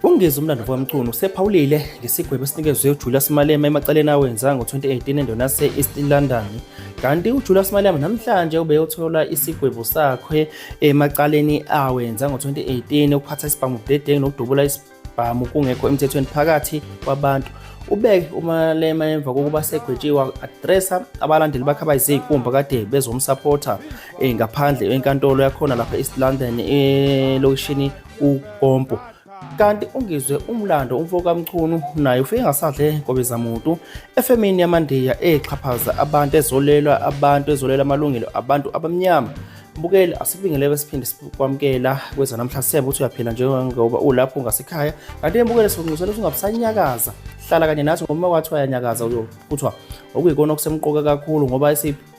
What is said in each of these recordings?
UNgezi umlando womculo usephawulile ngesigwebo esinikezwe uJulius Malema emacaleni awenza ngo-2018 endona se-East London kanti uJulius Malema namhlanje ubeyothola isigwebo sakhe emacaleni awenza ngo-2018 ukuphatha isibhamu budedengu nokudubula isibhamu kungekho emthethweni phakathi kwabantu ubeke umalema emva kokuba segwetshiwe adressa abalandeli bakhe abayizikumba kade bezomsapotha eh, ngaphandle enkantolo yakhona lapha e-east london elokishini ukompo kanti ungizwe umlando umfo kamchunu naye ufike ngasadle kobezamuntu efemini yamandiya exhaphaza abantu ezolelwa abantu ezolela amalungelo abantu abamnyama mbukeli asibingeleke siphinde sikwamukela kweza namhla sebe ukuthi uyaphila njengoba ulapho ngasekhaya kanti embukele sikunxusela ukuthi ungabusanyakaza hlala kanye nathi ngoba kwathiwa yanyakaza kuthiwa okuyikona okusemqoka kakhulu ngoba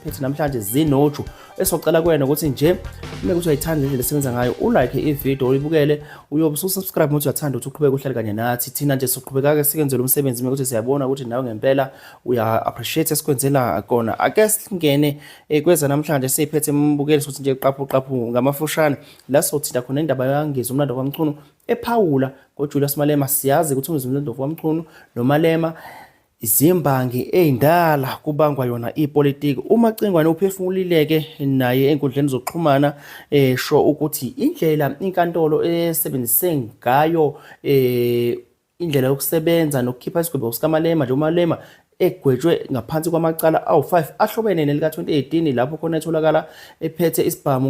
futhi namhlanje zinoju esocela kwena ukuthi nje uma kuthi uyayithanda le ndlela esebenza ngayo ulike ividiyo uyibukele uyobe ususubscribe ukuthi uyathanda ukuthi uqhubeke uhlale kanye nathi thina nje siqhubeka-ke sikwenze lo msebenzi uma kuthi siyabona ukuthi nawe ngempela uya-appreciate esikwenzela kona ake singene eh, kweza namhlanje siyiphethe embukeli sokuthi nje qaphu qaphu ngamafushane la sothinta khona indaba yangiza umlando kwamchunu ephawula ngojulius malema siyazi ukuthi umzimlando kwamchunu nomalema Izimbangi ey'ndala kubangwa yona ipolitiki. UMacingwane uphefumulileke naye enkundleni zokuxhumana esho eh, ukuthi indlela inkantolo esebenzise ngayo eh, indlela yokusebenza nokukhipha isigwebo sikaMalema nje uMalema egwetshwe ngaphansi kwamacala awu-5 ahlobene nelika-2018 lapho khona etholakala ephethe isibhamu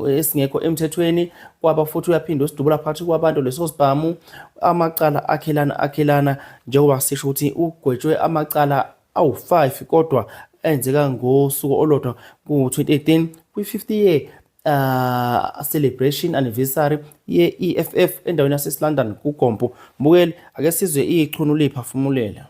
esingekho emthethweni kwaba futhi uyaphinde usidubula phakathi kwabantu leso sibhamu amacala akhelana akhelana Njengoba sisho ukuthi ugwetshwe amacala awu-5 kodwa enzeka ngosuku olodwa ku-2018 kwi-50 year uh, celebration anniversary ye-EFF endaweni yase London kuGompo. Mbukeli ake sizwe ichunu liphafumulela.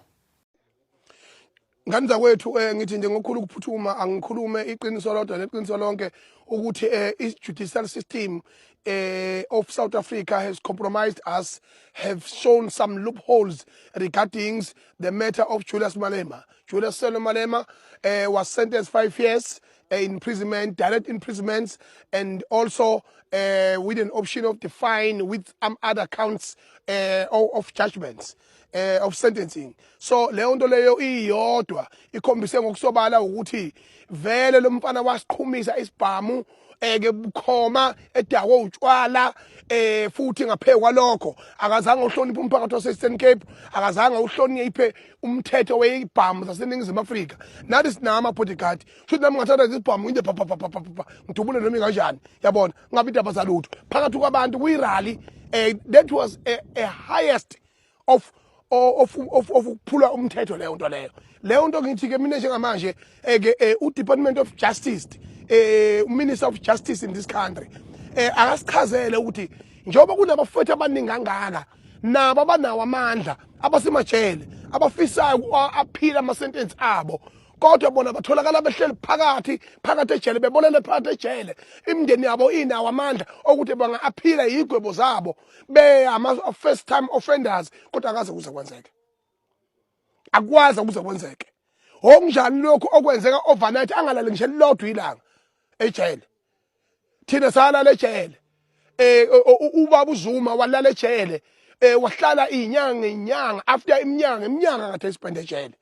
ngani zakwethu um ngithi nje ngokukhulu ukuphuthuma angikhulume iqiniso lodwa neqiniso lonke ukuthi um i-judicial system uh, of South Africa has compromised us, have shown some loopholes regarding the matter of Julius Malema. Julius Selo Malema uh, was sentenced five years uh, imprisonment, direct imprisonments, and also uh, with an option of the fine with some other counts uh, of judgments. eh of sentencing so leyo nto leyo iyodwa ikhombise ngokusobala ukuthi vele lo mfana wasiqhumisa isibhamu eke bukhoma edakwe utshwala eh futhi ngaphe kwalokho akazange uhloniphe umphakathi waseStern Cape akazange uhloniphe umthetho weyibhamu zaseningizimu Afrika nathi sinama bodyguard futhi nami ngathatha izibhamu into pha pha pha pha ngidubule noma kanjani yabona ngabe indaba zalutho phakathi kwabantu kuyirally eh, that was a, a highest of of of ukuphula umthetho leyo nto leyo leyo nto ngithi ke mina njengamanje eh, ke eh, u Department of Justice eh Minister of Justice in this country eh akasichazele ukuthi njengoba kunabafowethu abaningi kangaka nabo abanawo amandla abasemajele abafisayo aphila ama sentence abo kodwa bona batholakala behleli phakathi phakathi ejele bebolele phakathi ejele imindeni yabo inawo amandla okuthi banga-aphila yigwebo zabo beyama-first time offenders kodwa akaze kuze kwenzeke akwazi ukuze kwenzeke okunjani lokhu okwenzeka overnight angalali ngisho elilodwa ilanga ejele thina salala ejele eh ubaba uzuma walala ejele eh wahlala inyanga inyanga after iminyanga iminyanga ngathi isibhende ejele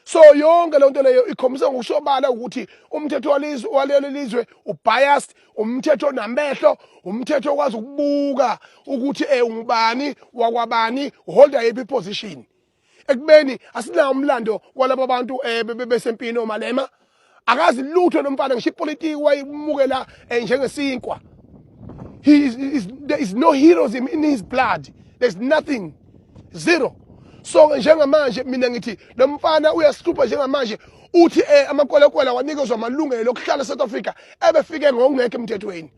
so yonke le nto leyo ikhombisa ngokusobala ukuthi umthetho walizwe walelo lizwe ubiased umthetho onamehlo umthetho okwazi ukubuka ukuthi eh ungubani wakwabani holda yiphi position ekubeni asinawo umlando walabo bantu um eh, besempini omalema akazi lutho lo mfana ngisho ipolitiki wayimukela eh, njengesinkwa there is no heroism in his blood there's nothing zero so-ke njengamanje mina ngithi lo mfana uyasihlupha njengamanje uthi um amakwelakwela wanikezwa amalungelo okuhlala e-south africa ebefike ngokungekho emthethweni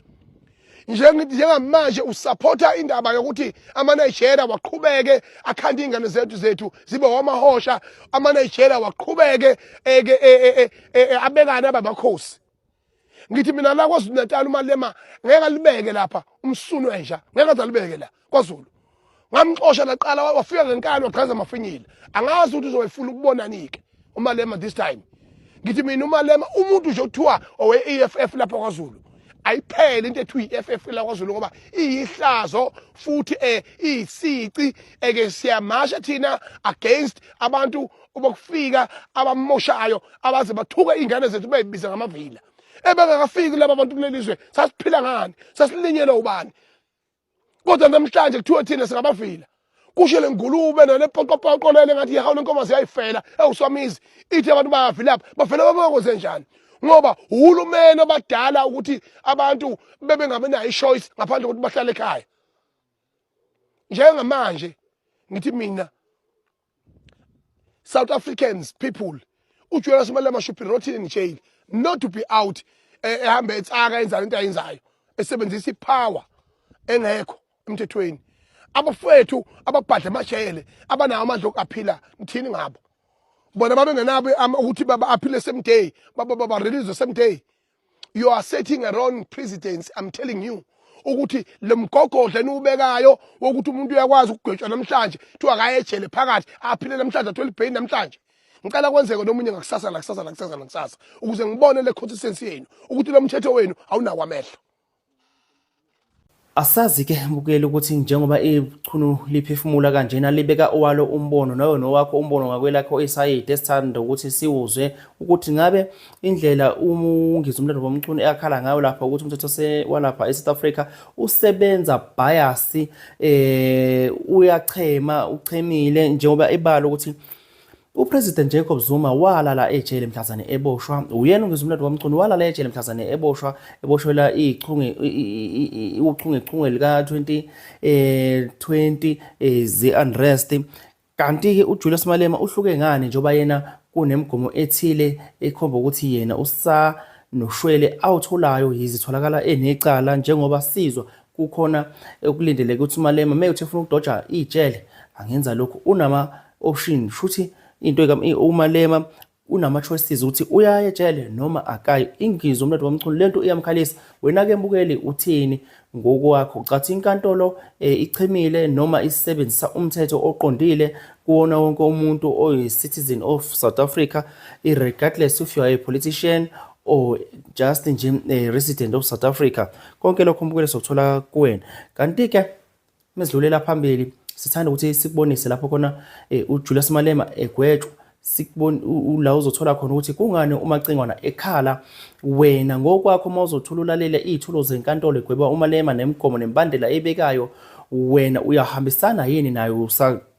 njengithi njengamanje usaphotha indaba yokuthi amanayijera waqhubeke akhanda iy'ngane zethu zethu zibe wamahosha amanayijera waqhubeke e, e, e, abekane abamakhosi ngithi mina la kwazulu natal umalema ngeke alibeke lapha umsunu enja ngeke aze alibeke la kwazulu ngamxosha laqala wafika ngenkani wagqaza amafinyile angazi ukuthi uzoyifuna ukubonani-ke umalema this time ngithi mina umalema umuntu nje okuthiwa owe-e f f lapha kwazulu ayiphele into ethiwa i-f f lakwazulu ngoba iyihlazo futhi um iyisici eke siyamasha thina against abantu bokufika abamoshayo abaze bathuke iy'ngane zethu beyibiza ngamavila ebengakafiki laba bantu kuleli zwe sasiphila ngani sasilinyelwe ubani kodwa namhlanje kuthiwe thina singabafila kusho le ngulube nale poqopoqo lele ngathi yehawu le nkomazi yayifela ewuswamizi ithi abantu bayafi lapha bafela babakwenze njani ngoba uhulumeni obadala ukuthi abantu bebengabenayo ichoice ngaphandle kokuthi bahlale ekhaya njengamanje ngithi mina South Africans people uJonas Malema should be rotten in jail not to be out eh, ehambe etsaka enzana into ayenzayo esebenzisa ipower engekho emthethweni abafowethu ababhadle amajele abanawo amandla okuaphila ngithini ngabo bona babengenabo ukuthi baba aphile same day baba baba release same day you are setting a wrong precedence i'm telling you ukuthi lo mgogodla eniwubekayo wokuthi umuntu uyakwazi ukugwetshwa namhlanje kuthiwa akayejele phakathi aphile namhlanje athole ibheyini namhlanje ngicela kwenzeke nomunye ngakusasa nakusasa nakusasa nakusasa ukuze ngibone le consistency yenu ukuthi lo mthetho wenu awunakwamehlo Asazi ke mbukeli ukuthi njengoba ichunu liphefumula kanjena libeka owalo umbono nawe nowakho umbono ngakwelakho isayidi esithanda ukuthi siwuzwe ukuthi ngabe indlela umungizwe umlando womchunu eyakhala ngayo lapha ukuthi umthetho walapha e-South Africa usebenza bias eh uyachema uchemile njengoba ibala ukuthi UPresident Jacob Zuma walala ejele mhlazane eboshwa uyena ungizwe umlando wamchunu walala ejele mhlazane eboshwa eboshwela ichunge uchunge chunge lika 20 eh 20 eh, ze unrest kanti ke uJulius Malema uhluke ngani njoba yena kunemigomo ethile ekhomba ukuthi yena usa noshwele awutholayo yizitholakala enecala njengoba sizwa kukhona ekulindeleke ukuthi uMalema meyuthi efuna ukudoja ijele angenza lokhu unama option shuthi into umalema unama-choices ukuthi uyaye ejele noma akayi ingizwe umnotho wamchunu le nto iyamkhalisa wena-ke mbukeli uthini ngokwakho ucathi inkantolo um e, ichemile noma isebenzisa umthetho oqondile kuwona wonke umuntu oyi-citizen of south africa regardless if you are a politician or just nje a resident of south africa konke lokho mbukeli sokuthola kuwena kanti-ke Mesidlulela phambili sithanda ukuthi sikubonise lapho khona eh, uJulius Malema egwetshwa sikubona la uzothola khona ukuthi kungani umacingwana ekhala wena ngokwakho uma uzothola ulalela iy'thulo zenkantolo egweba umalema nemigomo nembandela ebekayo wena uyahambisana yini nayo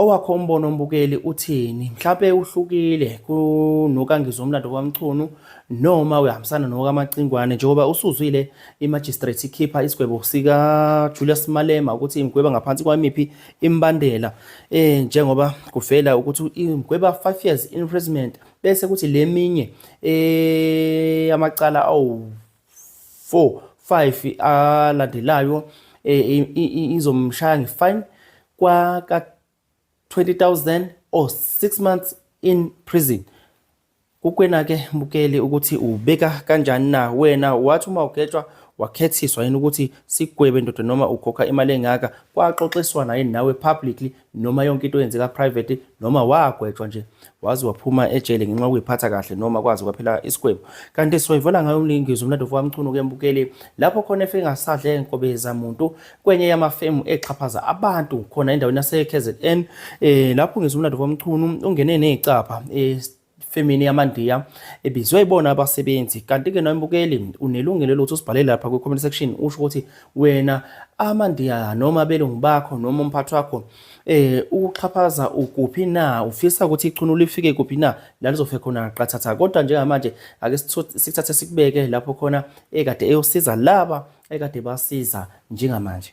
Owakho umbono mbukeli uthini? Mhlawumpe uhlukile kunokaNgizwe uMlando kwaMchunu noma uyahambisana nokaMacingwane njengoba usuzwile imagistrate ikhipha isigwebo sikaJulius Malema ukuthi imgweba ngaphansi kwamiphi imbandela eh njengoba kuvela ukuthi imgweba 5 years imprisonment bese kuthi leminye eh amacala awu 4 5 alandelayo eh, izomshaya ngefine kwaka 20000 or 6 months in prison kukwena ke mukeli ukuthi ubeka kanjani na wena wathi uma ugetshwa wakhethiswa yini ukuthi sigwebe ndoda noma ukhokha imali engaka kwaxoxiswana yini nawe publicly noma yonke into yenzeka private noma wagwetshwa nje wazi waphuma ejele ngenxa yokuyiphatha kahle noma kwazi kwaphela isigwebo kanti siwayivola ngayo umlingizo umlando wamchunu kembukeli lapho khona efe ngasadle enkobe zamuntu kwenye yamafemu exhaphaza abantu khona endaweni yase-KZN eh lapho ngizwa umlando wamchunu ungene nezicapha eh femini yamandiya ebizwe ibona abasebenzi kanti-ke nombukeli unelungelo lokuthi usibhalele lapha kwi-comment section usho ukuthi wena amandiya noma abelungu bakho noma umphathi wakho um eh, ukuxhaphaza ukuphi na ufisa ukuthi ichunu lifike kuphi na la lizofe khona qathatha kodwa njengamanje ake sikuthathe sikubeke lapho khona ekade eyosiza laba ekade basiza njengamanje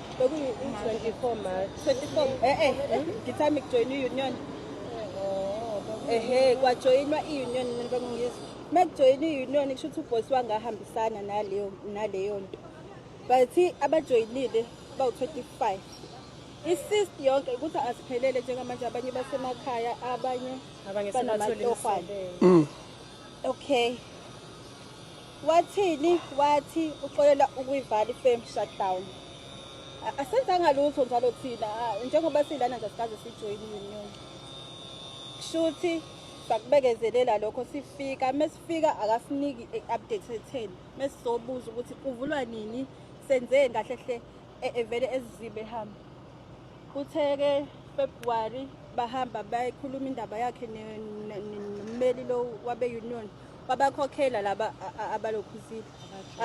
Bekuyi-24 March. 24 eh eh ngithami kujoyina i-union. Ehhe kwajoyinwa i-union mina bengingizwa. Uma kujoyina i-union kusho ukuthi ubhosi wangahambisana naleyo naleyo nto. But abajoyinile bawu-25. I-cyst yonke ukuthi asiphelele njengamanje abanye basemakhaya abanye Abanye sebathole banamatohwane. imisebenzi. Okay. Wathini? Wathi uxolela ukuyivala ifame shutdown. Asenzanga lutho njalo thina njengoba silana nje sikaze sijoyine union. Kushuthi sakubekezelela lokho sifika mesifika akasiniki update etheni mesizobuza ukuthi kuvulwa nini senzeni kahle hle e-, evele ezizibe ehamba kuthe-ke february bahamba bayikhuluma indaba yakhe nommeli lo wabe-union babakhokhela laba abalokhuzile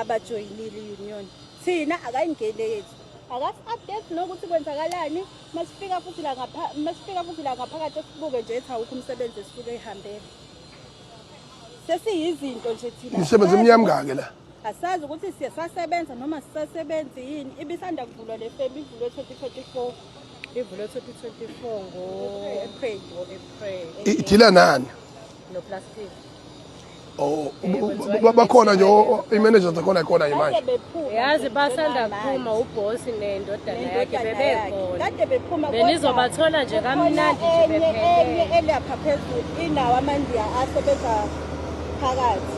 abajoyinile i-union thina akayingene yethu akasi-update nokuthi kwenzakalani masifika futhi la masifika futhi la ngaphakathi esibuke nje ethi awukho umsebenzi esisuke ihambele sesiyizinto nje thina imisebenzi emnyama kake la Asazi ukuthi sisasebenza noma sisasebenzi yini. Ibisanda kuvulwa le femi ivulwe 2024. Ivulwe 2024 ngo April ngo April. Idila nani? No plastic. Oh, bakhona nje i-manager zakhona ikhona nje manje. Yazi basanda kuphuma uboss nendodana yakhe bebekhona. Kade bephuma kodwa. Benizobathola nje kamnandi nje bephele. Enye elapha phezulu inawo amandiya asebenza phakathi.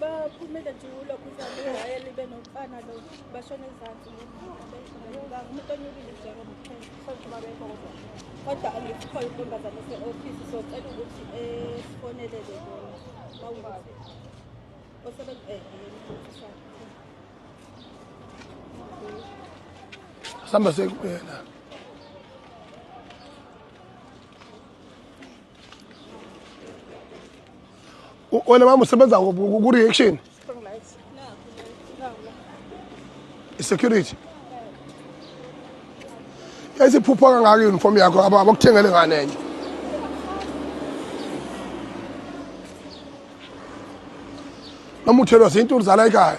baphumile nje kulokhu uzale waya libe nomfana lo bashona ezansi umuntu onyukile njengoba kodwa angikuthola intombazane ese-ofisi socela ukuthi esifonelele eh, bona bawukuthi osebesihamba eh, eh, sekuyena wena mama usebenza ku-reaction i-security yayisiphupha kangaka i-uniform yakho abakuthengele ngane enye noma uthelwa zintuli zala ekhaya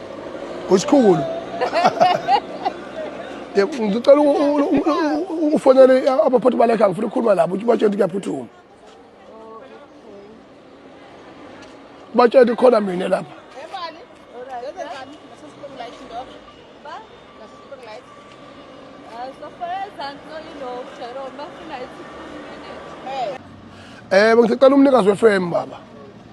Usikhulu. Ngicela ufonele abaphathi balakhe ngifuna ukukhuluma nabo ukuthi batshele kuyaphuthuma. Batshele khona mina lapha. Eh bengicela umnikazi weFM baba.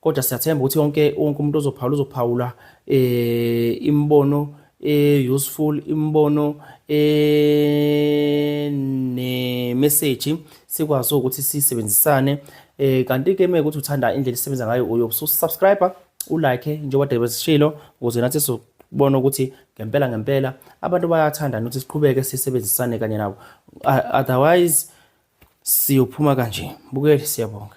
kodwa siyathemba ukuthi yonke wonke umuntu ozophawula uzophawula eh imibono eh useful imibono eh ne message sikwazi ukuthi sisebenzisane eh kanti ke mekuthi uthanda indlela isebenza ngayo uyo subscriber u like njengoba David sishilo ukuze nathi so bona ukuthi ngempela ngempela abantu bayathanda nokuthi siqhubeke sisebenzisane kanye nabo otherwise siyophuma kanje bukeli siyabonga